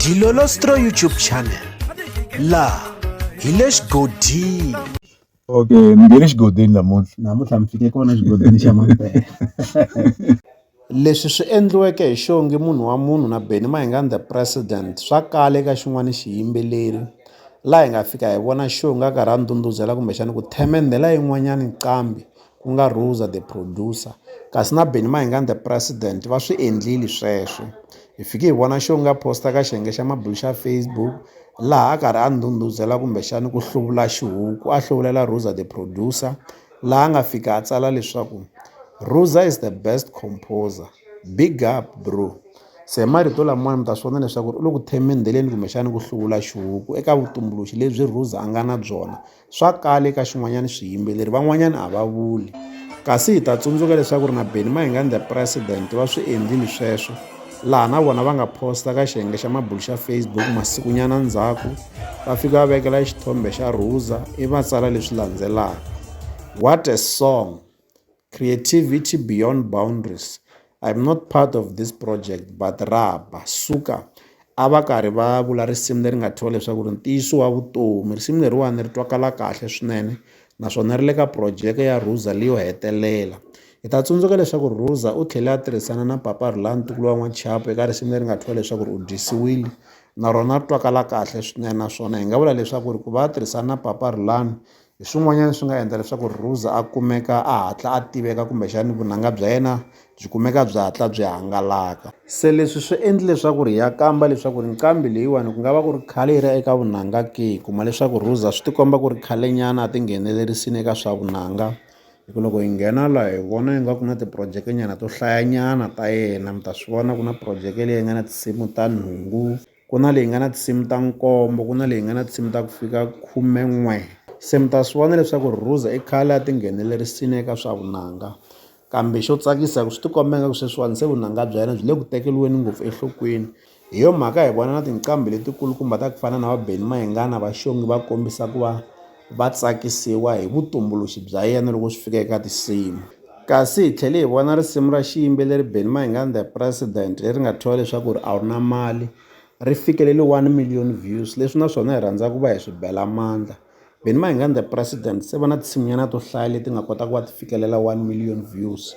Dilolostro YouTube channel laha hi le xigodini okay ni nge le xigodini namuntlha namuntlha mi fike kona xigodini xa mampela leswi swi endliweke hi xongi munhu wa munhu na beni mahingani the president swa kala eka xin'wana xiyimbeleri laha hi nga fika hi vona xongi a karhi a ndhundhuzela kumbexani ku themendhela yin'wanyani nqambi ku nga Rosa the producer kasi na Benny Mahingani the president va swi endlile sweswo hi fike hi vona xo nga posta ka xiyenge xa mabulu xa Facebook laha a karhi a ndhundhuzela kumbexani ku hluvula xihuku a hluvulela Rosa the producer laha nga fika a tsala leswaku Rosa is the best composer big up bro se marito lamawani mi ta swi vona leswaku u le ku themendheleni kumbexani ku hluvula xihuku eka vutumbuluxi lebyi Rosa a nga na byona Swa kala eka xin'wanyana swiyimbeleri van'wanyana a va vuli kasi hi ta tsundzuka leswaku ri na Benny Mayengani the president va swi endlile sweswo laha na vona va nga posta ka xiyenge xa mabulu xa Facebook masikunyana ndzhaku va fika va vekela xithombe xa Rosa i va tsala leswi landzelaka what a song Creativity Beyond Boundaries, I'm not part of this project but Raba Suka a va karhi va vula risimu leri nga thyiwa leswaku ri ntiyiso wa vutomi risimu leriwani ri twakala kahle swinene naswona ri le ka projeke ya Ruza leyo hetelela hi ta tsundzuka leswaku Ruza u tlhele a tirhisana na Papa Rhulani ntukulu wa N'wachapo eka risimu leri nga thyiwa leswaku ri u dyisiwile na rona ri twakala kahle swinene naswona hi nga vula leswaku ri ku va a tirhisana na Papa Rhulani Hi swin'wanyana swi nga endla leswaku Rosa a kumeka a hatla a tiveka kumbexani vunanga bya yena byi kumeka byi hatla byi hangalaka. Se leswi swi endli leswaku ri hi ya kamba leswaku ri nqambi leyiwani ku nga va ku ri khale yi ri eka vunanga ke, hi kuma leswaku Rosa swi ti komba ku ri khale nyana a ti nghenelerisini eka swa vunanga hi ku loko hi nghena la hi vona ingaku na ti-project nyana to hlayanyana ta yena mi ta swi vona ku na project leyi nga na tinsimu ta nhungu. Ku na leyi nga na tinsimu ta nkombo ku na leyi nga na tinsimu ta ku fika khumen'we se mi ta swi vona leswaku ri Ruza i khale a tinghenelerisini eka swa vunanga kambe xo tsakisa ku swi tikomba ingaku sweswiwani se vunanga bya yena byi le ku tekeriweni ngopfu enhlokweni hi yo mhaka hi vona na tinqambi letikulukumba ta ku fana na va Benny Mayengani va Xongi va kombisa ku va. Va tsakisiwa hi vutumbuluxi bya yena loko swi fika eka tinsimu. Kasi hi tlhele hi vona risimu ra xiyimbeleri Benny Mayengani The President leri nga thyiwa leswaku ri A Wu Na Mali, ri fikelele 1 million views, leswi na swona hi rhandza ku va hi swi bela mandla. Benny Mayengani The President se va na tinsimunyana to hlaya leti nga kota ku va ti fikelela 1 million views.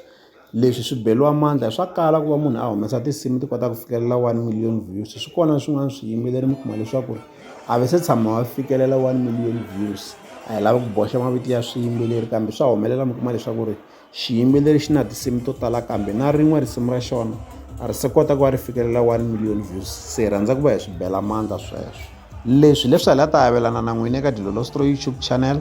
Leswi swi beriwa mandla swa kala ku va munhu a humesa tinsimu ti kota ku fikelela one million views swi kona swin'wana swiyimbeleri mi kuma leswaku ri a va se tshama va fikelela one million views a hi lava ku boxa mavito ya swiyimbeleri kambe swa humelela mi kuma leswaku ri xiyimbeleri xi na tinsimu to tala kambe na rin'we risimu ra xona a ri se kota ku va ri fikelela one million views se hi rhandza ku va hi swi bela mandla sweswo leswi leswi hi la ta avelana na n'wina eka Dilolosto YouTube channel.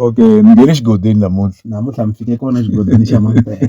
Okay, ni nge le xigodini namuntlha. Namuntlha mi fike kona xigodini xa Mampela.